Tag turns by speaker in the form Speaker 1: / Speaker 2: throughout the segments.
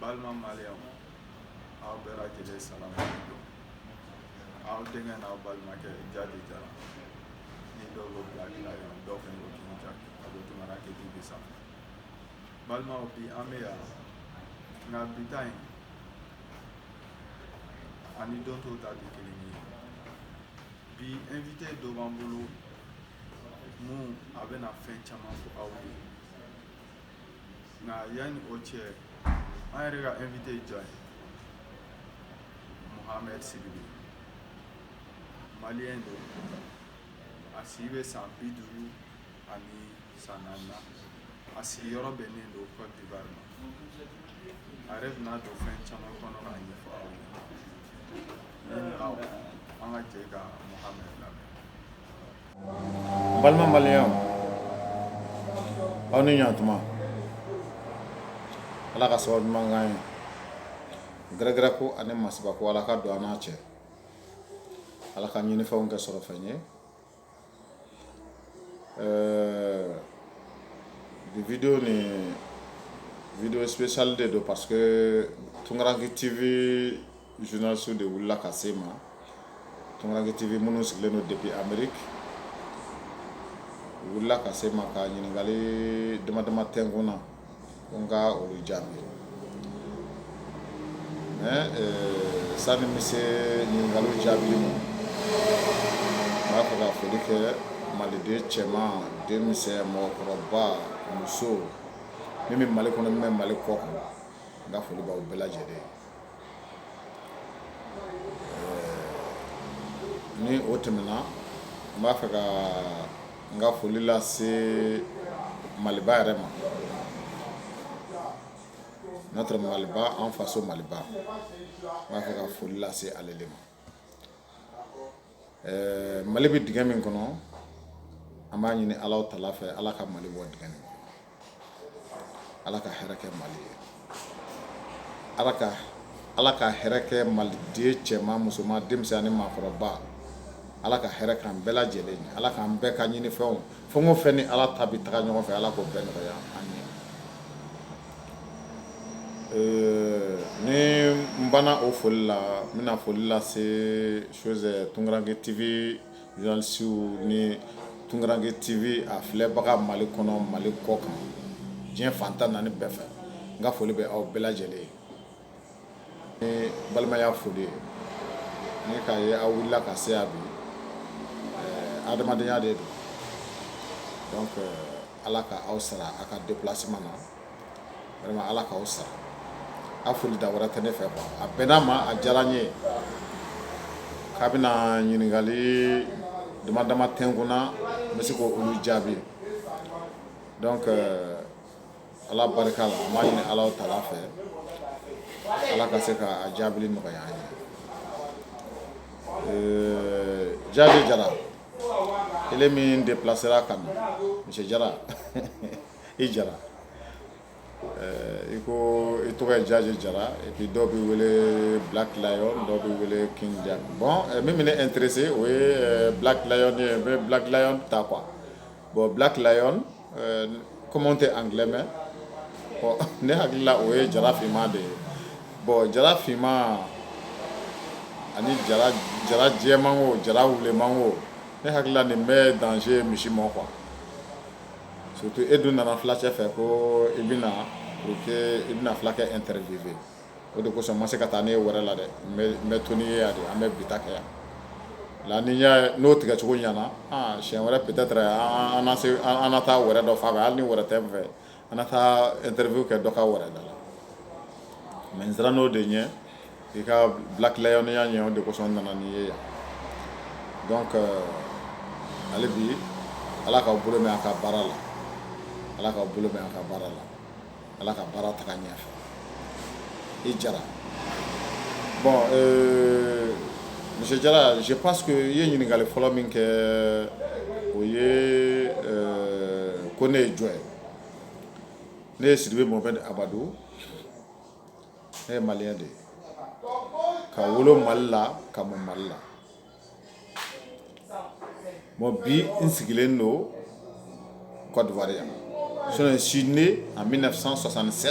Speaker 1: balima maliyɛnw aw bɛɛ lajɛlen salamu aleykum aw denkɛ n'aw balimakɛ jaje jara ni dɔw ko black lion dɔw fɛnɛ ko king jack a bɛ tunkaranke tv sanfɛ balimaw bi an bɛ yan nka bi ta in ani don tɔw ta tɛ kelen ye bi invité dɔ b'an bolo min a bɛna fɛn caman fɔ aw ye nka yanni o cɛ an yɛrɛ ka invité ye jɔn ye mohamed sidibe maliyɛn don a si bɛ san bi duuru ani san naani na a sigiyɔrɔ bɛnnen don cote d'ivoire ma a yɛrɛ bɛna don fɛn caman kɔnɔ k'a ɲɛfɔ aw ye na an ka jɛ ka mohamed lamɛn balima
Speaker 2: maliyɛnw aw ni ɲatuma ala ka sababu ɲuman k'an ye gɛrɛgɛrɛ ko ani masiba ko ala ka don an n'a cɛ ala ka ɲinifɛnw kɛ sɔrɔfɛn ye ɛɛ bi vidéo nin vidéo spécial de don parce que tunkaranke tv journalistew de wulila ka se n ma tunkaranke tv minnu sigilen don depuis amérique wulila ka se n ma ka ɲininkali dama dama kɛ n kun na ko n ka olu jaabi sani n bɛ se ɲininkali jaabi ma n b'a fɛ ka foli kɛ maliden cɛman denmisɛn mɔgɔkɔrɔba muso min bɛ mali kɔnɔ min bɛ mali kɔkan n ka foli b'aw bɛɛ lajɛlen ni o tɛmɛna n b'a fɛ ka n ka foli lase maliba yɛrɛ ma notre maliba an faso maliba n b'a fɛ ka foli lase ale de ma ɛɛ Mali bɛ dingɛ min kɔnɔ, an b'a ɲini Alahu taala fɛ Ala ka Mali bɔ dingɛ nin kɔnɔ, Ala ka hɛrɛ kɛ Mali ye, Ala ka Ala ka hɛrɛ kɛ maliden cɛman, musoman, denmisɛn ani maakɔrɔba, Ala ka hɛrɛ k'an bɛɛ lajɛlen ye, Ala k'an bɛɛ ka ɲinifɛnw fɛn o fɛn ni Ala ta bɛ taga ɲɔgɔn fɛ Ala k'o bɛɛ nɔgɔya an ye. Ɛɛ ni n banna o foli la n bɛna foli lase chose tunkaranke tv journalistew ni tunkaranke tv a filɛbaga mali kɔnɔ mali kɔkan diɲɛ fan tan naani bɛɛ fɛ n ka foli bɛ aw bɛɛ lajɛlen ye balimaya foli ye ni k'a ye aw wulila ka se yan bi adamadenya de don donc ala ka aw sara aw ka déplacement na vraiment ala k'aw sara a foli da wɛrɛ tɛ ne fɛ quoi a bɛnna n ma a diyara n ye k'aw bɛna ɲininkali dama dama kɛ n kunna n bɛ se k' olu jaabi Ala barika la ma ɲini ala ta fɛ ala ka se ka jaabi nɔgɔya ye jaabi jara kelen min de bilasira ka misi jara i jara i ko i tɔgɔ ye jaaji jara i dɔ bɛ wele bilakila dɔw bɛ wele kin bɔn min minɛ n terire se o ye bilakila ye bɛ bilakila ta kuwa bon Black Lion comme n tɛ anglais mɛn ne hakili la o ye jara finman de ye bon jara finman ani jara jɛman o jara wuleman o ne hakili la nin bɛɛ danger misi ma quoi surtout e dun nana filacɛ fɛ ko i bɛna i bɛna fulakɛ interviewer o de kosɔn n ma se ka taa n'e ye wɛrɛ la dɛ n bɛ to n'i ye yan de an bɛ bi ta kɛ yan la ni y'a n'o tigɛcogo ɲɛna aa siɲɛ wɛrɛ peut-être an na se an na taa wɛrɛ dɔ fan fɛ hali ni wɛrɛ tɛ n fɛ an na taa interview kɛ dɔ ka wɛrɛ da la mais n siranna o de ɲɛ i ka Black Lion ya ɲɛ o de kosɔn n nana n'i ye yan donc hali bi Ala k'aw bolo mɛn a ka baara la Ala k'aw bolo mɛn a ka baara la ala ka baara taga ɲɛfɛ i jara bon euh, monsieur jara je pense que i ye ɲininkali fɔlɔ min kɛ o ye euh, ko ne ye jɔn ye ne ye sidibe mohamɛd amadu ne ye maliyɛn de ye ka wolo mali la ka mɔ mali la Bon bi n sigilen don kɔrɔwari yan so si ne a bɛ na san sɔsanse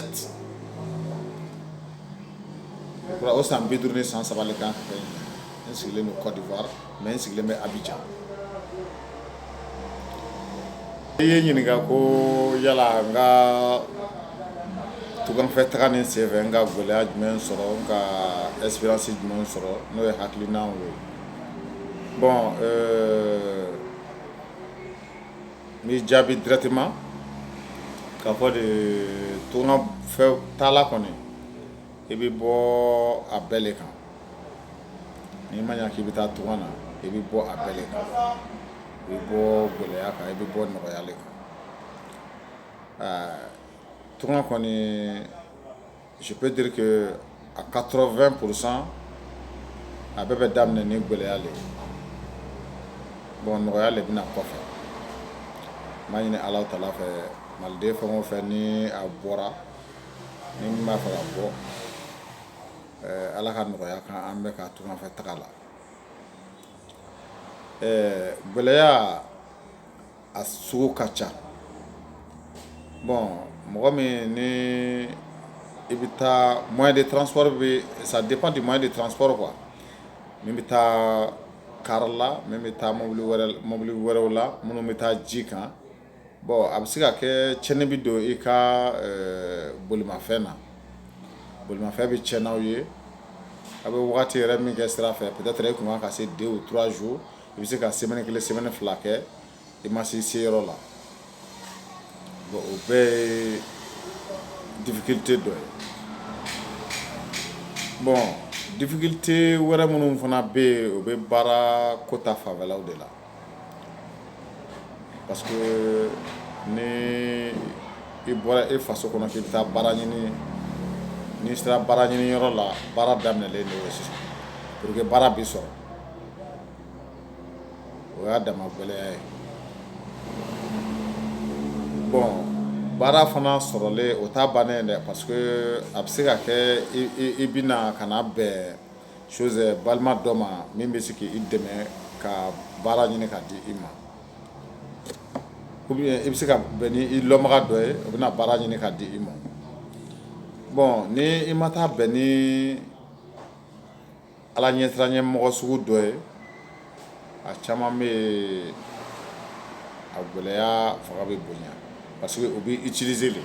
Speaker 2: o san bi duuru ni san sabali kan n sigilen don kɔrɔwa mɛ n sigilen bɛ a bɛ jan I ye n ɲininka ko yala n ka tunganfɛ taga nin senfɛ n ka gɛlɛya jumɛn sɔrɔ n ka expérience jumɛn sɔrɔ n'o ye hakilinaw ye bon n b'i jaabi directement k'a fɔ de tunganfɛ taala kɔni i bɛ bɔ a bɛɛ de kan N'i ma ɲa k'i bi taa tungan na i bi bɔ a bɛɛ le kan. I bi bɔ gɛlɛya kan i bi bɔ nɔgɔya le kan. Aa tungan kɔni je peux dire que à 80 pourcent a bɛɛ bɛ daminɛ ni gɛlɛya le ye. Bon nɔgɔya le bi na kɔfɛ. N b'a ɲini Alahu Taala fɛ maliden fɛn o fɛn ni a bɔra ni min b'a fɛ ka bɔ Ala ka nɔgɔya kan an bɛɛ ka tunganfɛ taga la gɛlɛya a sugu ka ca bon mɔgɔ min ni i bɛ taa moyen de transport bɛ ça dépend du moyen de transport quoi min bɛ taa kari la min bɛ taa mobili wɛrɛ mobili wɛrɛw la minnu bɛ taa ji kan Bon a bɛ se ka kɛ cɛnni bɛ don i ka bolimafɛn na bolimafɛn bɛ cɛn n'aw ye a bɛ wagati yɛrɛ min kɛ sira fɛ peut-être e kun kan ka se 2 ou 3 jours i bɛ se ka semaine kelen semaine fila kɛ i ma se i seyɔrɔ la bon o bɛɛ ye difficulté dɔ ye bon difficulté wɛrɛ minnu fana bɛ yen o bɛ baara ko ta fanfɛlaw de la Parce que ni i bɔra e faso kɔnɔ k'i bɛ taa baara ɲini n'i sera baara ɲini yɔrɔ la baara daminɛlen le ye sisan pour que baara bɛ sɔrɔ o y'a dama gɛlɛya ye bon baara fana sɔrɔlen o t'a bannen ye dɛ parce que a bɛ se ka kɛ i bɛna ka na bɛn chose balima dɔ ma min bɛ se k'i dɛmɛ ka baara ɲini ka di i ma i bɛ se ka bɛn ni i lɔnbaga dɔ ye o bɛna baara ɲini ka di i ma bon ni i ma taa bɛn ni ala ɲɛsiranɲɛ mɔgɔ sugu dɔ ye a caman bɛ a gɛlɛya fanga bɛ bonya parce que o bɛ i utiliser le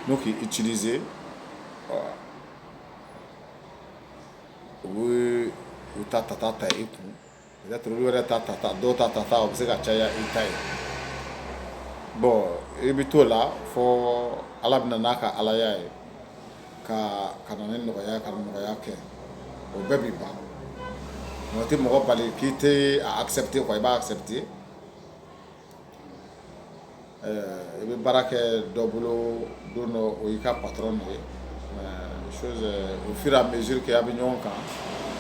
Speaker 2: n'o k'i utiliser u u ta ta ta i kun u yɛrɛ ta ta ta dɔw ta ta taa u bɛ se ka caya i ta ye bon i bɛ t'o la fɔ ala bɛna n'a ka alaya ye ka na ni nɔgɔya ka nɔgɔya kɛ o bɛɛ bɛ ban o tɛ mɔgɔ bali k'i tɛ a accepter quoi i b'a accepter I bɛ baara kɛ dɔ bolo don dɔ o y'i ka pat nɔ ye o sera a bɛzuru kɛ a bɛ ɲɔgɔn kan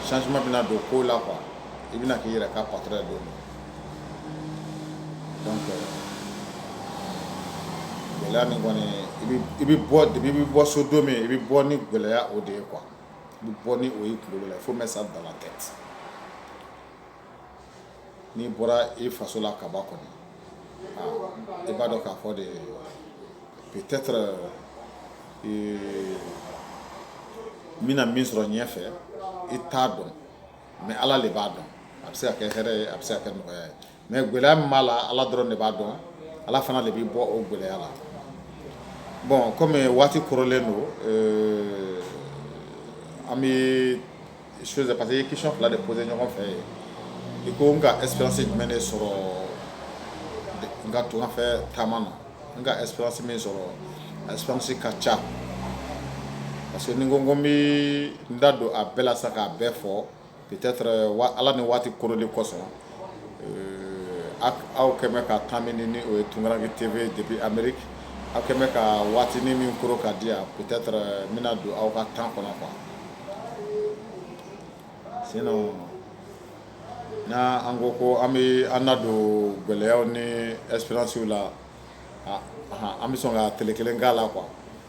Speaker 2: sanj bɛna don ko la qu i bɛna k'i yɛrɛ ka pat don gɛlɛya min kɔni i bɛ bɔ de bɛ bɔ so don min i bɛ bɔ ni gɛlɛyaya o de ye kuwa i bɛ bɔ ni o ye la fo bɛ sa bala tɛ n'i bɔra i faso la ka ban kɔni i b'a dɔn k'a fɔ de peut-être n bɛna min sɔrɔ ɲɛfɛ i t'a dɔn mais ala le b'a dɔn a bɛ se ka kɛ hɛrɛ ye a bɛ se ka kɛ nɔgɔya ye mais gɛlɛya min b'a la ala dɔrɔn de b'a dɔn ala fana de b'i bɔ o gɛlɛya la bon comme waati korolen don an bɛ su pa que ye kisi fila de pose ɲɔgɔn fɛ ye i ko n ka espsi jumɛn de sɔrɔ n ka tungafɛ taama na n ka espsi min sɔrɔ aspsi ka ca parce que ni ko ko bɛ n da don a bɛɛ la sa k'a bɛɛ fɔ bi ala ni waati koro de kosɔn aw kɛmɛ ka tan min ni o ye tunkarake tebe debi anmeri aw kɛmɛ ka waati ni min koro ka di yan bi bɛna don aw ka tan kɔnɔ kuwa Sen n' an ko ko an bɛ an don gɛlɛya ni ɛsiransiw la an bɛ sɔn ka t kelen k' la qu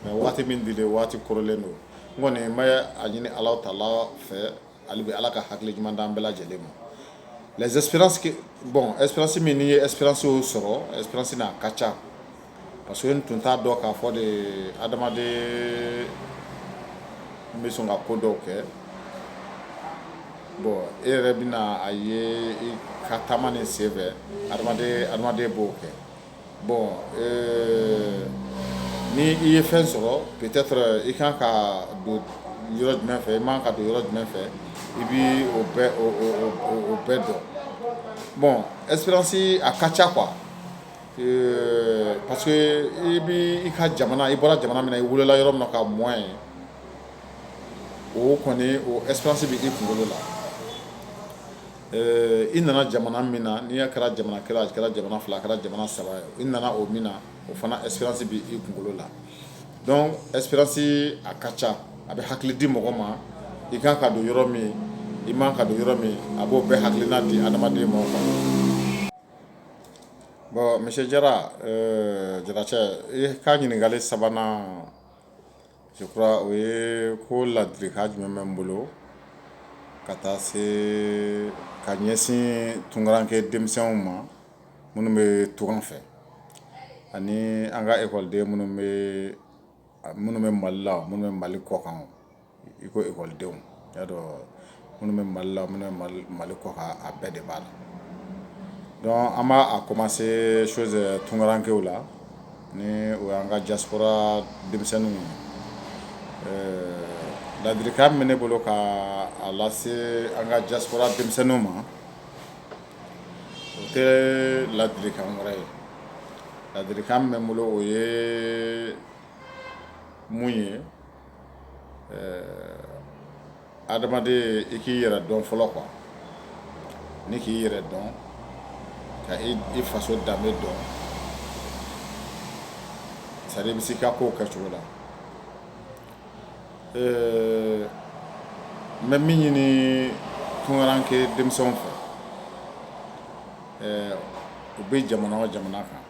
Speaker 2: mɛ waati min di waati kɔrɔlen don n kɔni n a ɲini ala ta fɛ ale bɛ ala ka hakili ɲuman di an bɛɛ lajɛlen ma bɔn ɛsi min' ye ɛsiranso sɔrɔ ɛsina a ka ca parce que n tun t'a dɔn k'a fɔ de adamaden n bɛ sɔn ka ko dɔw kɛ bon e yɛrɛ bɛna a ye i ka taama ni sen fɛ adamaden b'o kɛ bon euh, ni i ye fɛn sɔrɔ peut-être i kan ka don yɔrɔ jumɛn fɛ i man ka don yɔrɔ jumɛn fɛ i bi o bɛɛ dɔn bon expérience a ka ca quoi Ɛɛ parce que i bɛ i ka jamana i bɔra jamana min na i wolola yɔrɔ min na ka mɔ yen o kɔni o expérience bɛ i kunkolo la ɛɛ i nana jamana min na n'i y'a kɛra jamana kelen a kɛra jamana fila a kɛra jamana saba ye i nana o min na o fana expérience bɛ i kunkolo la donc expérience a ka ca a bɛ hakili di mɔgɔ ma i kan ka don yɔrɔ min i man ka don yɔrɔ min a b'o bɛɛ hakilina di adamaden ma Bon monsieur Jara Jaracɛ i ka ɲininkali sabanan je crois o ye ko ladilikan jumɛn bɛ n bolo ka taa se ka ɲɛsin tunkaranke denmisɛnw ma minnu bɛ tunga fɛ ani an ka ekɔliden minnu bɛ Minnu bɛ mali la minnu bɛ mali kɔkan i ko ekɔlidenw y'a dɔn minnu bɛ mali la minnu bɛ mali kɔkan a bɛɛ de b'a la donc an b'a commencer chose tunkarankew la ni o y'an ka diaspora denmisɛnninw ye ladirikan min bɛ ne bolo ka a lase an ka diaspora denmisɛnninw ma o tɛ ladilikan wɛrɛ ye ladilikan min bɛ n bolo o ye mun ye adamaden i k'i yɛrɛ dɔn fɔlɔ quoi ni k'i yɛrɛ dɔn ka i faso danbe dɔn c'est à dire i bɛ se i ka kow kɛcogo la. ɛɛ n bɛ min ɲini tunkaranke denmisɛnw fɛ ɛɛ u bɛ jamana o jamana kan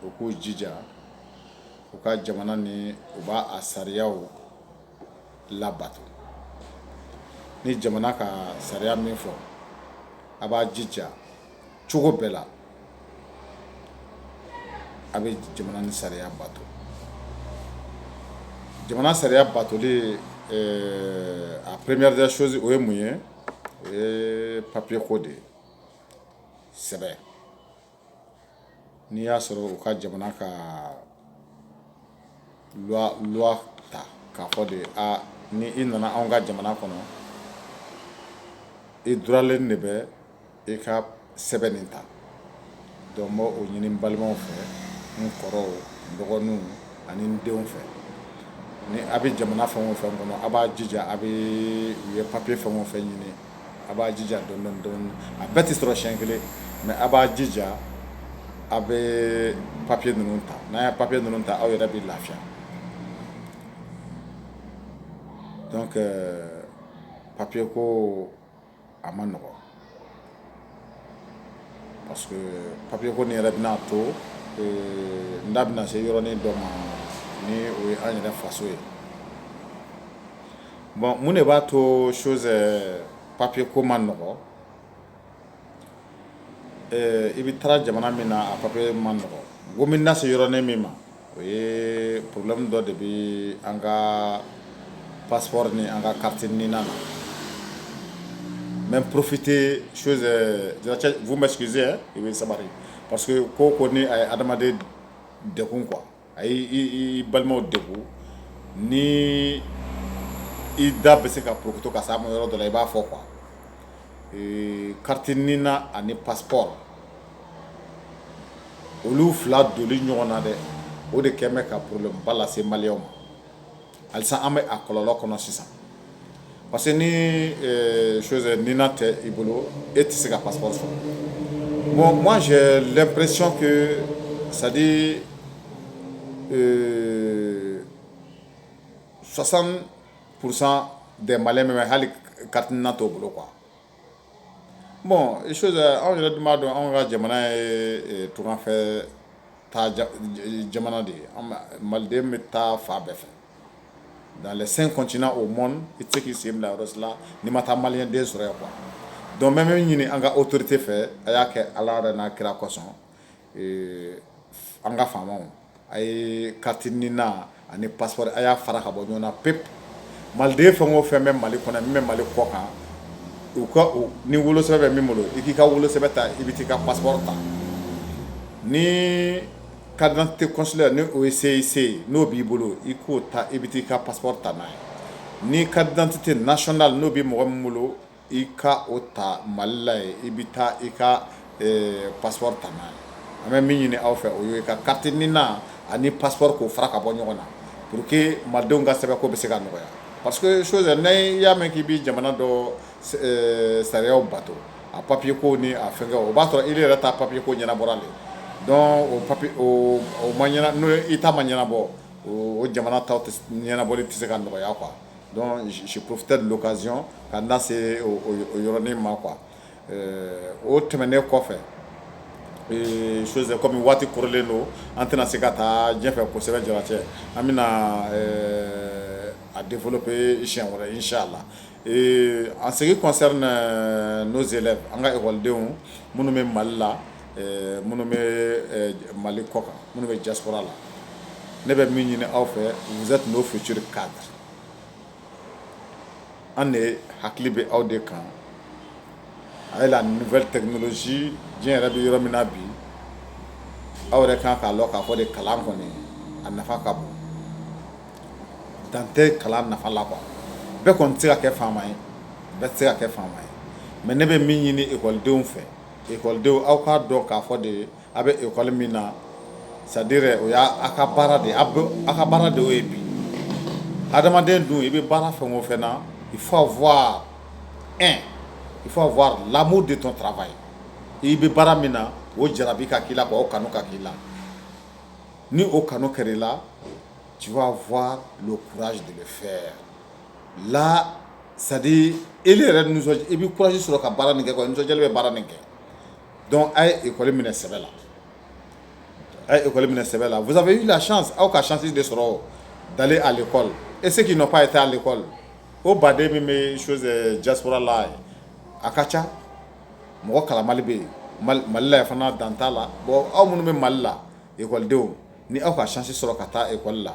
Speaker 2: u k'u jija u ka jamana nin u b'a a sariyaw labato ni jamana ka sariya min fɔ a b'a jija cogo bɛɛ la a bɛ jamana nin sariya bato jamana sariya batoli a première des choses o ye mun ye o ye papiye ko de ye sɛbɛn n'i y'a sɔrɔ u ka jamana ka ta k'a fɔ de ni i nana anw ka jamana kɔnɔ i duralen de bɛ i ka sɛbɛn nin ta donc n b'o ɲini balimaw fɛ n kɔrɔw dɔgɔninw ani n denw fɛ ni a bɛ jamana fɛn o fɛn kɔnɔ a b'a jija a bɛ u ye papiye fɛn o fɛn ɲini a b'a jija dɔɔnin dɔɔnin a bɛɛ tɛ sɔrɔ siɲɛ kelen mais a b'a jija a bɛ papiye ninnu ta n'a ye papiye ninnu ta aw yɛrɛ bɛ lafiya donc papiye ko a man nɔgɔn Parce que papier ko in yɛrɛ bɛna to ee n da bɛna se yɔrɔnin dɔ ma ni o ye an yɛrɛ faso ye bon mun de b'a to chose euh, papier ko man nɔgɔ ee i bɛ taara jamana min na a papier man nɔgɔ ko n bɛna se yɔrɔnin min ma o ye problème dɔ de bɛ an ka passeport ni an ka carte d'identité na, n bɛ profiter chose Jara vous m'excusez hein i bɛ sabari parce que ko o ko ni a ye adamaden degun quoi a y'i balimaw degun ni i da bɛ se ka porokoto ka se a ma yɔrɔ dɔ la i b'a fɔ quoi carte nina ani passeport olu fila don ɲɔgɔn na dɛ o de kɛlen bɛ ka pba lase ma ali an bɛ a kɔlɔnlɔ kɔnɔ sisan parce que ni ni tɛ i bolo e tɛ se ka pa sɔrɔ bon ma lɛnpresi sa sososan kurusan dɛmɛ bɛ hali katiina tɔw bolo kuwa Bon chose anw yɛrɛ dun b'a dɔn anw ka jamana ye tungafɛtaa jamana de ye maliden bɛ taa fan bɛɛ fɛ dans les cinq continents au monde i tɛ se k'i sen bila yɔrɔ si la n'i ma taa maliyɛn den sɔrɔ yan quoi donc n bɛ min ɲini an ka autorités fɛ a y'a kɛ ala yɛrɛ n'a kira kosɔn an ka faamaw a ye carte nina ani passeport a y'a fara ka bɔ ɲɔgɔn na pewu maliden fɛn o fɛn bɛ mali kɔnɔ min bɛ mali kɔ kan u ka ni wolosɛbɛn bɛ min bolo i k'i ka wolosɛbɛn ta i bɛ taa i ka passeport ta ni carte d'identité consulaire ni o ye CIC ye n'o b'i bolo i k'o ta i bɛ taa i ka passeport ta n'a ye ni carte d'identité nationale n'o bɛ mɔgɔ min bolo i ka o ta mali la ye i bɛ taa i ka passeport ta n'a ye an bɛ min ɲini aw fɛ o ye ka carte nina ani passeport k'o fara ka bɔ ɲɔgɔn na pour que malidenw ka sɛbɛnko bɛ se ka nɔgɔya parce que chose n'i y'a mɛn k'i bɛ jamana dɔ sariyaw bato a papiye ko ni a fɛnkɛ o b'a sɔrɔ i yɛrɛ ta papiye ko ɲɛnabɔra le donc o papiye o ma n'o i ta ma ɲɛnabɔ o jamana taw ɲɛnabɔli tɛ se ka nɔgɔya quoi donc je profitais de l'occasion ka n da se o yɔrɔnin ma quoi o tɛmɛnen kɔfɛ chose kɔmi waati kɔrɔlen don an tɛna se ka taa ɲɛfɛ kosɛbɛ Jaracɛ an bɛna a développer siɲɛ wɛrɛ inchallah en ce qui concerne nos élèves an ka ekɔlidenw minnu bɛ mali la ɛɛ minnu bɛ Mali kɔ kan minnu bɛ diaspora la ne bɛ min ɲini aw fɛ vous êtes nos futurs cadres an de hakili bɛ aw de kan avec la nouvelle technologie diɲɛ yɛrɛ bɛ yɔrɔ min na bi aw yɛrɛ kan k'a lɔn k'a fɔ de kalan kɔni a nafa ka bon dan tɛ kalan nafa la quoi bɛɛ kɔni tɛ se ka kɛ faama ye bɛɛ tɛ se ka kɛ faama ye mais ne bɛ min ɲini école denw fɛ Ekɔlidenw aw k'a dɔn k'a fɔ de a bɛ ekɔli min na c'est-à-dire o y' aw ka baara de aw ka baara de y'o ye bi adamaden dun i bɛ baara fɛn o fɛn na il faut avoir ɛ il faut avoir l'amour de ton travail i bɛ baara min na o jarabi ka k'i la quoi o kanu ka k'i la ni o kanu kɛra i la tu vas avoir le courage de le faire la sa e yɛrɛ i bɛ kɔsi sɔrɔ ka baara min kɛ nisɔn bɛ baara min kɛ dɔn a ye ekɔ minɛ sɛbɛ la a ye ekɔ minɛ sɛbɛ la i la aw ka sisi de sɔrɔ da ale kɔ e se k'i nɔ' a ye taa ale kɔ o baden min bɛ su jakurara la a ka ca mɔgɔ kala mali bɛ yen malila fana dan t'a la aw minnu bɛ mali la ekɔlidenw ni aw ka sisi sɔrɔ ka taa ekɔli la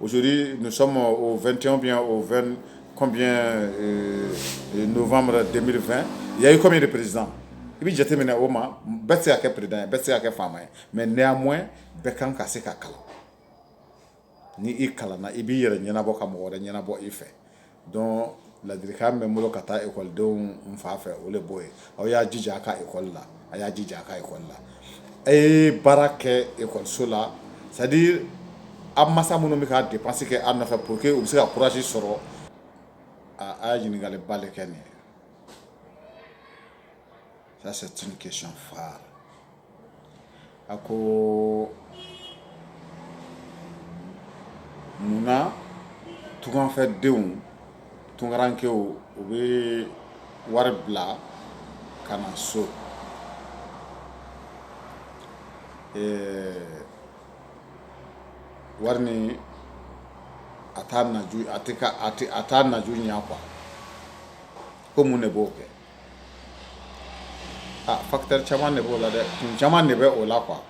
Speaker 2: Ojri nusɔn o2tew bɛ o2 nfama denmisɛnninmifɛn ya iko de peresiz i bɛ jate min na o ma bɛɛ se' kɛ pered bɛɛ se' kɛ faama ye mɛ n mɔ bɛɛ kan ka se ka kalan ni i kalan i b'i yɛrɛ ɲɛnabɔ ka mɔgɔ wɛrɛ ɲɛnabɔ i fɛ donc ladilikan bɛ n bolo ka taa ekɔlidenw fan fɛ o de b'o ye aw y'a jija a ka ekɔli la a y'a jija a ka ekɔli la a ye baara kɛ ekɔliso la c'est-à-dire aw masa minnu bɛ ka dépense kɛ aw nɔfɛ pour que u bɛ se ka courage sɔrɔ aaa a ye ɲininkaliba de kɛ nin ye Ça, c'est une question phare. A ko munna tunkanfɛdenw tunkarankɛw u bɛ wari bila ka na so eh, wari nin a t'a naju a tɛ ka a tɛ a t'a naju ɲɛ quoi ko mun de b'o kɛ. Aa facteur caman de b'o la dɛ kun caman de bɛ o la quoi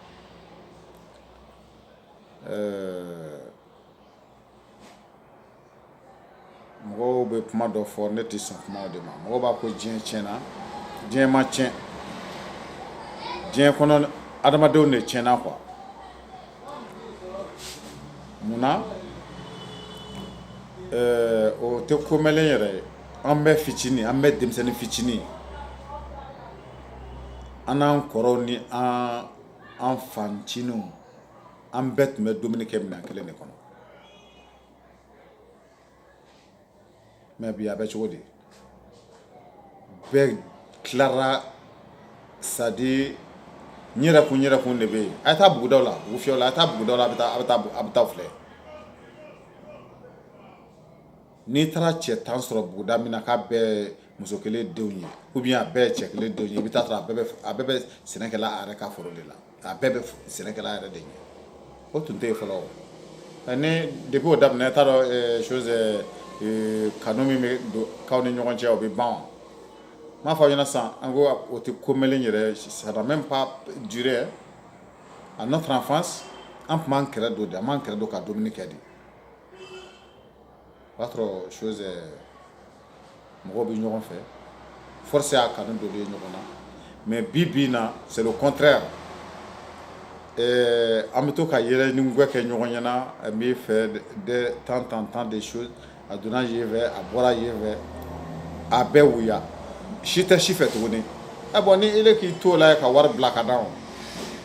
Speaker 2: mɔgɔw bɛ kuma dɔ fɔ ne tɛ sɔn kuma de ma mɔgɔ b'a ko diɲɛ tiɲɛna diɲɛ ma tiɲɛ diɲɛ kɔnɔ adamadenw de tiɲɛna quoi munna o tɛ ko mɛnnen yɛrɛ ye An bɛ fitinin an bɛ denmisɛnnin fitinin an n'an kɔrɔw ni an fancinin an bɛɛ tun bɛ dumuni kɛ minɛn kelen de kɔnɔ mais bi a bɛ cogo di bɛɛ tilara c'est-à-dire n yɛrɛ kun yɛrɛ kun de bɛ yen a ye taa buguda la bugufiyɛ la a ye taa buguda la a bɛ taa filɛ n'i taara cɛ tan sɔrɔ buguda min na k'a bɛɛ muso kelen denw ye ou bien a bɛɛ cɛ kelen denw ye i bɛ taa sɔrɔ a bɛɛ bɛ a bɛɛ bɛ sɛnɛkɛla a yɛrɛ ka foro de la a bɛɛ bɛ sɛnɛkɛla yɛrɛ de ɲɛ o tun tɛ yen fɔlɔ ni depuis o daminɛ t'a dɔn eh, chose eh, eh, kanu min bɛ don k'aw ni ɲɔgɔn cɛ o bɛ ban wa n b'a fɔ aw ɲɛna sisan an ko o tɛ ko mɛnlen yɛrɛ ça n'a même pas duré à notre enfance an tun b'an kɛrɛ don de an b'an kɛrɛ don ka dumuni kɛ de o b'a sɔrɔ chose mɔgɔw bɛ ɲɔgɔn fɛ force y'a kanu don ɲɔgɔn na mais bi bi in na c'est le contraire ɛɛ an bɛ to ka yɛlɛ ni gɛ kɛ ɲɔgɔn ɲɛna n b'i fɛ de temps en temps des choses a donna yen fɛ a bɔra yen fɛ a bɛɛ wuya si tɛ si fɛ tuguni ɛ bon ni ele k'i to la ka wari bila ka d'a ma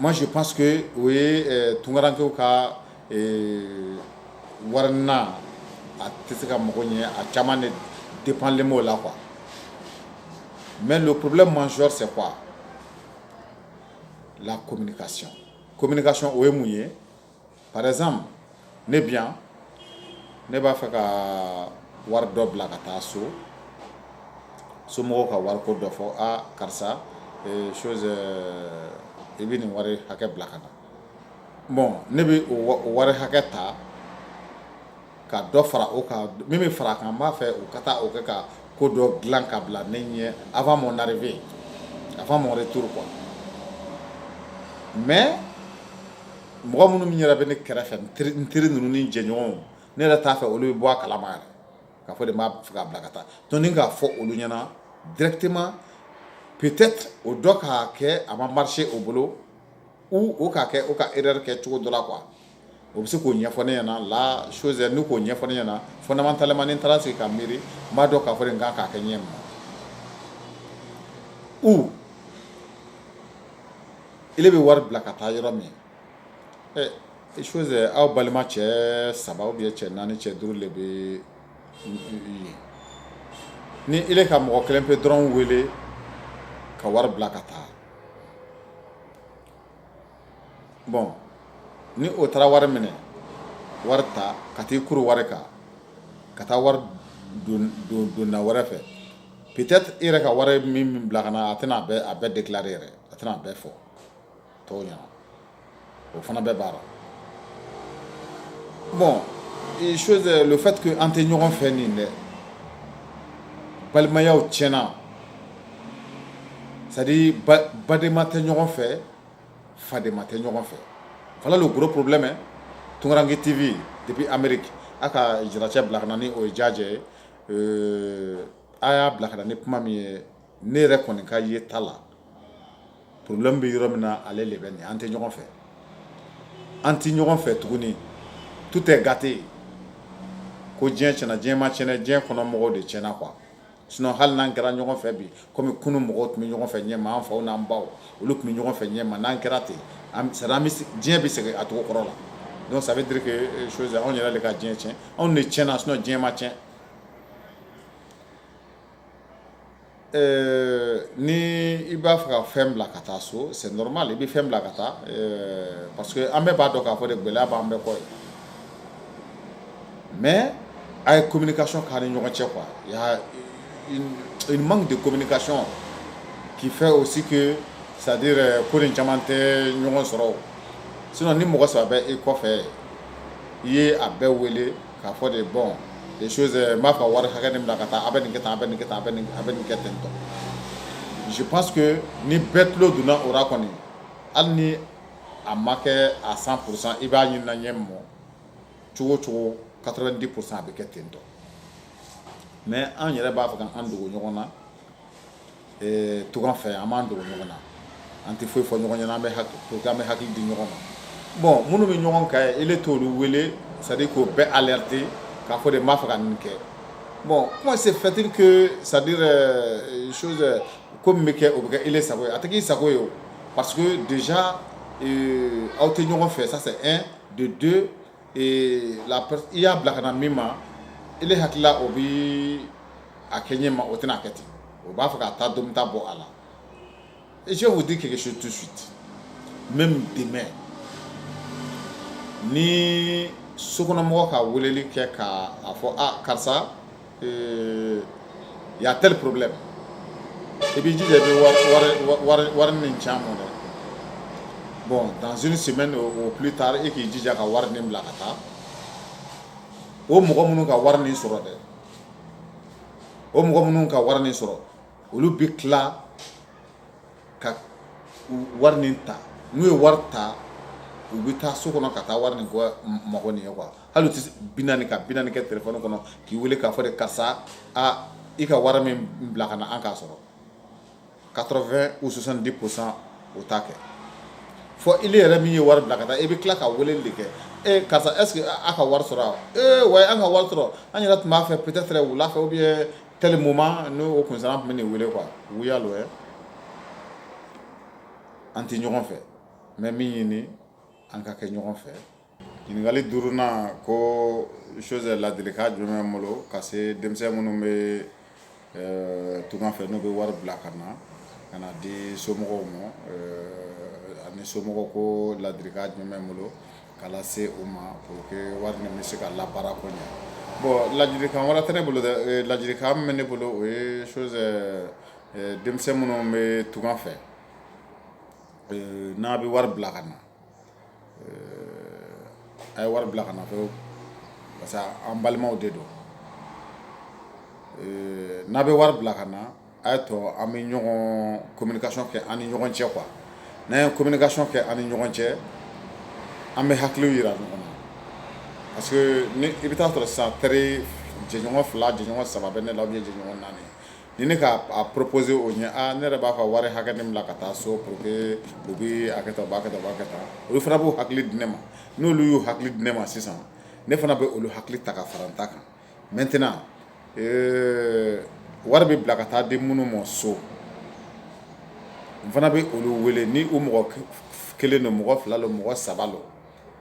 Speaker 2: Masi pa que o ye tunkarakarakɛ ka wari a tɛ se ka mɔgɔ ɲɛ a caman de de panlen' o la qu mɛ don porobi ma sɔ fɛ qu la kɔmi kasi o ye mun ye par exemple ne bi yan ne b'a fɛ ka wari dɔ bila ka taa so somɔgɔw ka wari ko dɔ fɔ aa karisa chose i bɛ nin wari hakɛ bila ka na bon ne bɛ o wari hakɛ ta ka dɔ fara o kan min bɛ fara a kan n b'a fɛ u ka taa o kɛ ka ko dɔ dilan ka bila ne ɲɛ avant mon arrivée avant mon retour quoi mais mɔgɔ minnu min yɛrɛ bɛ ne kɛrɛfɛ n teri n teri ninnu ni jɛɲɔgɔnw ne yɛrɛ t'a fɛ olu bɛ bɔ a kalama yɛrɛ k'a fɔ de m'a fɛ k'a bila ka taa donc ni k'a fɔ olu ɲɛna directement peut-être o dɔ k'a kɛ a ma marcher o bolo ou o k'a kɛ o ka erreur kɛ cogo dɔ la quoi o bɛ se k'o ɲɛfɔ ne ɲɛna la chose n'u k'o ɲɛfɔ ne ɲɛna fondamentalement ni n taara sigi ka miiri n b'a dɔn k'a fɔ de n kan k'a kɛ ɲɛ ma ou ele bɛ wari bila ka taa yɔrɔ min ɛ chose aw balima cɛ saba ou bien cɛ naani cɛ duuru de bɛ yen ni ele ka mɔgɔ kelen pe dɔrɔn wele ka wari bila ka taa bon ni o taara wari minɛ wari ta ka taa i kuru wari kan ka taa wari don da wɛrɛ fɛ peut-être i yɛrɛ ka wari min bila ka na a tɛna a bɛɛ a bɛɛ déclarer yɛrɛ a tɛna a bɛɛ fɔ tɔw ɲɛna o fana bɛɛ b'a la bon chose le fait que an tɛ ɲɔgɔn fɛ nin dɛ balimayaw tiɲɛna c'est à dire badenma tɛ ɲɔgɔn fɛ fadenma tɛ ɲɔgɔn fɛ voilà le gros problème tunkarankɛ tv depuis amérique a ka jiracɛ bila ka na ni o ye jajɛ ye a y'a bila ka na ni kuma min ye ne yɛrɛ kɔni ka ye ta la problème bɛ yɔrɔ min na ale de bɛ nin an tɛ ɲɔgɔn fɛ an tɛ ɲɔgɔn fɛ tuguni tout est gâté ko diɲɛ tiɲɛna diɲɛ ma tiɲɛ diɲɛ kɔnɔ mɔgɔw de tiɲɛna quoi Sinon hali n'an kɛra ɲɔgɔn fɛ bi kɔmi kunun mɔgɔw tun bɛ ɲɔgɔn fɛ ɲɛma an faw n'an baw olu tun bɛ ɲɔgɔn fɛ ɲɛma n'an kɛra ten diɲɛ bɛ segin a cogo kɔrɔ la donc ça veut dire que chose anw yɛrɛ de ka diɲɛ cɛn anw de cɛnna sinon diɲɛ ma cɛn ni i b'a fɛ ka fɛn bila ka taa so c'est normal i bɛ fɛn bila ka taa parce que an bɛɛ b'a dɔn k'a fɔ de gɛlɛya b'an bɛɛ kɔ ye mais a ye communication k'an ni ɲɔgɔn cɛ quoi il y a une manque de communication qui fait aussi que c'est à dire euh, ko nin caman tɛ ɲɔgɔn sɔrɔ sinon ni mɔgɔ saba bɛ i kɔfɛ i ye a bɛɛ wele k'a fɔ de bon les choses euh, n b'a fɛ wari hakɛ nin bila ka taa a bɛ nin kɛ tan a bɛ nin kɛ tan a bɛ nin a bɛ nin kɛ ten tɔ je pense que ni bɛɛ tulo donna o ra kɔni hali ni a ma kɛ à cent pour cent i b'a ɲini ɲɛ mɔ cogo cogo quatre-vingt-dix pour cent a bɛ kɛ ten tɔ mais an yɛrɛ b'a fɛ k'an dogo ɲɔgɔn na tunga fɛ an b'an dogo ɲɔgɔn na an tɛ foyi fɔ ɲɔgɔn ɲɛna an bɛ an bɛ hakili di ɲɔgɔn ma bon minnu bɛ ɲɔgɔn kan e t' olu wele c'est à dire k'o bɛɛ alerter k'a fɔ de n b'a fɛ ka nin kɛ bon comment se fait-il c'est à dire chose ko min bɛ kɛ o bɛ kɛ e sago ye a tɛ k'i sago ye Pa de aw tɛ ɲɔgɔn fɛ de don la i y'a bila ka min ma e hakili o bɛ a kɛ ɲɛ ma o tɛna a kɛ ten o b'a fɛ ka taa don bɛ taa bɔ a la e se tɛ ke su tu su mɛ dɛmɛ ni sokɔnɔmɔgɔ ka weleli kɛ k' a fɔ karisa Ee y a tel problème i b'i jija i bɛ wari nin ci an ma dɛ bon dans une semaine au plus tard e k'i jija ka wari nin bila ka taa o mɔgɔ minnu ka wari nin sɔrɔ dɛ o mɔgɔ minnu ka wari nin sɔrɔ olu bɛ tila ka wari nin ta n'u ye wari ta u bɛ taa so kɔnɔ ka taa wari nin mɔgɔ nin ye quoi hali u tɛ bi ka bi kɛ telefɔni kɔnɔ k'i weele k'a fɔ de karisa i ka wari min bila ka na an k'a sɔrɔ 80 ou 70 pour 100 o t'a kɛ fɔ i yɛrɛ min ye wari bila ka taa i bɛ tila ka weeleli de kɛ e karisa est-ce que aw ka wari sɔrɔ ee wa an ka wari sɔrɔ an yɛrɛ tun b'a fɛ peut-être wula fɛ ou bien tel moment n'o kun tun bɛ n'i weele quoi wuya don an tɛ ɲɔgɔn fɛ mais min ɲini an ka kɛ ɲɔgɔn fɛ ɲininkali duurunan ko chose ladilikan jumɛn bɛ n bolo ka se denmisɛn minnu bɛ tunga fɛ n'u bɛ wari bila ka na ka na di somɔgɔw ma ani somɔgɔw ko ladilikan jumɛn bɛ n bolo k'a lase u ma pour que wari nin bɛ se ka labaara ko ɲɛ bon ladilikan wɛrɛ tɛ ne bolo ladilikan min bɛ ne bolo o ye chose denmisɛn minnu bɛ tunga fɛ n'a bɛ wari bila ka na A ye wari bila ka na fɛ parce que an balimaw de don n'a bɛ wari bila ka na a y'a to an bɛ ɲɔgɔn communication kɛ an ni ɲɔgɔn cɛ quoi n'an ye communication kɛ an ni ɲɔgɔn cɛ an bɛ hakiliw yira ɲɔgɔn na parce que i bɛ taa a sɔrɔ sisan teri jɛɲɔgɔn fila jɛɲɔgɔn saba bɛ ne la ou bien jɛɲɔgɔn naani ni ne ka proposer o ɲɛ aa ne yɛrɛ b'a fɛ ka wari hakɛ min bila ka taa so pour que u b'a kɛ tan u b'a kɛ tan u b'a kɛ tan olu fana b'u hakili di ne ma n'olu y'u hakili di ne ma sisan ne fana bɛ olu hakili ta ka fara n ta kan maintenant euh, wari bɛ bila ka taa di minnu ma so n fana bɛ olu wele ni u mɔgɔ kelen don mɔgɔ fila don mɔgɔ saba don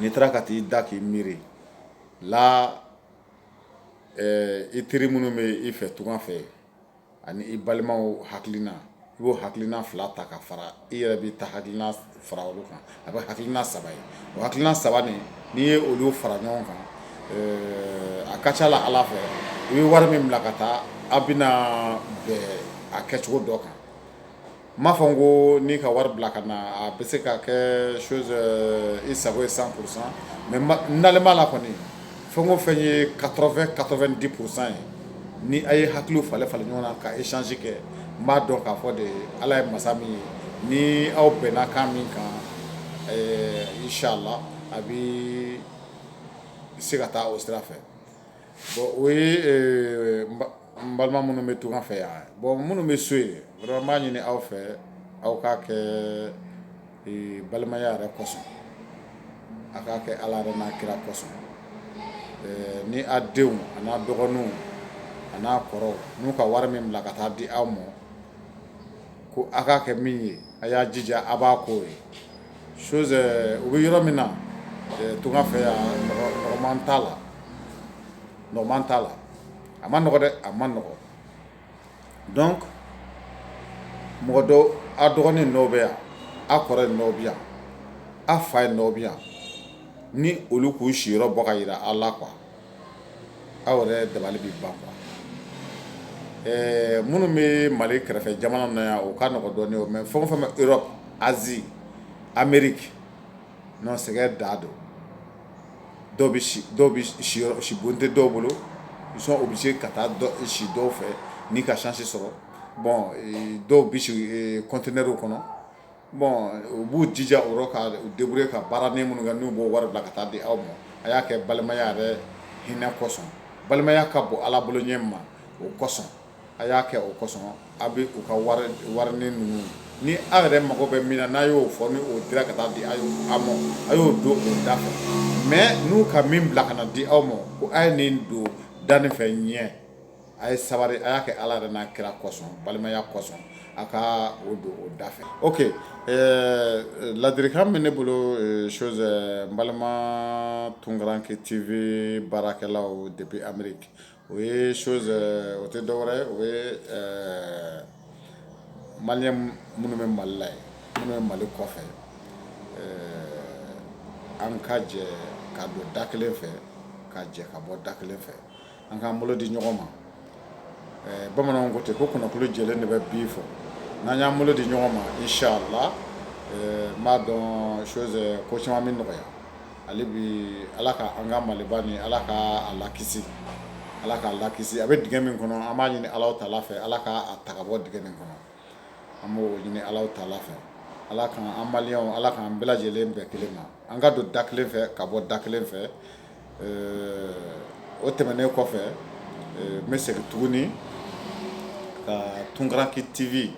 Speaker 2: n'i taara ka t'i da k'i miiri la i teri minnu bɛ i fɛ tunga fɛ ani i balimaw hakilina i b'o hakilina fila ta ka fara i yɛrɛ b'i ta hakilina fara olu kan a bɛ hakilina saba ye o hakilina saba nin n'i ye olu fara ɲɔgɔn kan a ka ca la ala fɛ i bɛ wari min bila ka taa aw bɛna bɛn a kɛcogo dɔ kan n m'a fɔ n ko n'i ka wari bila ka na a bɛ se ka kɛ chose i sago ye 100 pour 100 mais n dalen b'a la kɔni fɛn o fɛn ye 80 90 pour 100 ye ni a ye hakiliw falen falen ɲɔgɔn na ka échange kɛ n b'a dɔn k'a fɔ de Ala ye masa min ye ni aw bɛnna kan min kan inchallah a bɛ se ka taa o sira fɛ. Bon o ye ɛɛ n balima minnu bɛ tunga fɛ yan bon minnu bɛ so yen vraiment n b'a ɲini aw fɛ aw k'a kɛ ee balimaya yɛrɛ kosɔn, a k'a kɛ Ala yɛrɛ n'a kira kosɔn ɛɛ ni a denw a n'a dɔgɔninw a n'a kɔrɔw n'u ka wari min bila ka taa di aw ma ko a k'a kɛ min ye a y'a jija a b'a k'o ye chose u bɛ yɔrɔ min na tunga fɛ yan nɔgɔman t'a la a ma nɔgɔ dɛ a ma nɔgɔ donc mɔgɔ dɔ a dɔgɔnin dɔw bɛ yan a kɔrɔ dɔw bɛ yan a fa ye dɔw bɛ yan ni olu k'u siyɔrɔ bɔ ka jira a la quoi aw yɛrɛ dabali bɛ ban quoi ɛɛ minnu bɛ mali kɛrɛfɛ jamana na yan o ka nɔgɔ dɔɔnin o mais fɛn o fɛn bɛ Europe Asie Amérique non sɛgɛn da don dɔw bɛ si bon tɛ dɔw bolo ils sont obligés ka taa si dɔw fɛ n'i ka chance sɔrɔ bon dɔw bɛ si conteneurw kɔnɔ bon u b'u jija o yɔrɔ ka débrouiller ka baaranin minnu kɛ n'u b'o wari bila ka taa di aw ma a y'a kɛ balimaya yɛrɛ hinɛ kosɔn balimaya ka bon ala bolo ɲɛ ma o kosɔn a y'a kɛ o kosɔn aw bɛ u ka warinin ninnu ni aw yɛrɛ mago bɛ min na n'a y'o fɔ n'o dira ka taa di aw ma a y'o don o da fɛ mais n'u ka min bila ka na di aw ma ko aw ye nin don da nin fɛ ɲɛ a ye sabari a y'a kɛ ala yɛrɛ n'a kira kosɔn balimaya kosɔn a ka o don o da fɛ ok ladilikan min ne bolo chose n balima Tunkaranke TV baarakɛlaw depuis Amérique o ye chose o tɛ dɔwɛrɛ ye o ye maliyɛn minnu bɛ mali la ye minnu bɛ mali kɔfɛ an ka jɛ ka don da kelen fɛ ka jɛ ka bɔ da kelen fɛ an k'an bolo di ɲɔgɔn ma bamananw ko ten ko kɔnɔkulu jɛlen de bɛ bi fɔ n'an y'an bolo di ɲɔgɔn ma inshallah n b'a dɔn chose ko caman bɛ nɔgɔya hali bi ala ka an ka maliba nin ala ka a lakisi ala k'a lakisi a bɛ dingɛ min kɔnɔ an b'a ɲini ala taala fɛ ala k'a ta ka bɔ dingɛ nin kɔnɔ an b'o ɲini ala taala fɛ ala ka an maliyɛnw ala k'an bɛɛ lajɛlen bɛn kelen ma an ka don da kelen fɛ ka bɔ da kelen fɛ o tɛmɛnen kɔfɛ n bɛ segin tuguni ka Tunkaranke TV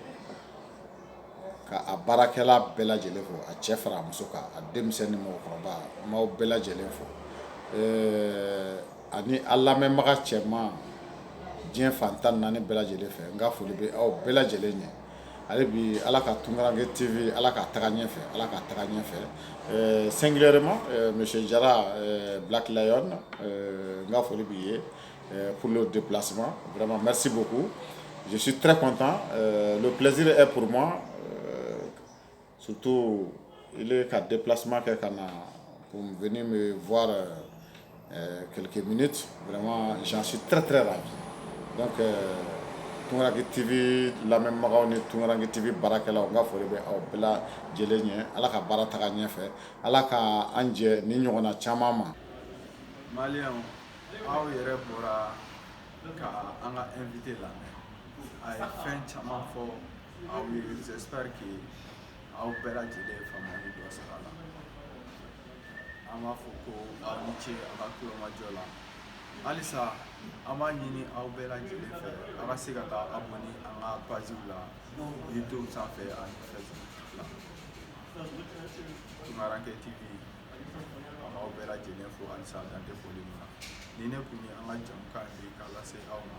Speaker 2: ka a baarakɛla bɛɛ lajɛlen fo a cɛ fara a muso kan a denmisɛn ni mɔgɔkɔrɔba n b'aw bɛɛ lajɛlen fo ani a lamɛnbaga cɛman diɲɛ fan tan ni naani bɛɛ lajɛlen fɛ n ka foli bɛ aw bɛɛ lajɛlen ye. ale bi ala ka tunkarakɛ tɛ ala ka taga ɲɛfɛ ala ka taga ɲɛfɛ sen ma misi jara bilakila na n ka foli b'i ye p de plasi mɛsi bɔ ko joosi tɛ kɔntan plɛsiri e pma Sutu i ka de plasisi kɛ ka na ko bɛ kɛlɛke mini jansi tɛrɛ la tunkarakarake tɛ bɛ lamɛnbagaw ni tunkarake tɛ bɛ baarakɛla u b'a fɔ bɛ aw bila lajɛ lajɛlen ye ala ka baara ta ɲɛ fɛ ala k ka an jɛ ni ɲɔgɔn na caman ma
Speaker 1: aw yɛrɛ bɔra an ka an la a ye fɛn caman fɔ aw ye j'espère que aw bɛɛ lajɛlen ye faamuyali dɔ sɔrɔ a la an b'a fɔ ko aw ni ce aw ka tulomajɔ la halisa an b'a ɲini aw bɛɛ lajɛlen fɛ aw ka se ka taa abonné an ka paziw la youtube sanfɛ ani facebook la tunkaranke tv an b'aw bɛɛ lajɛlen fo halisa dan tɛ foli min na nin de kun ye an ka jamukan ye k'a lase aw ma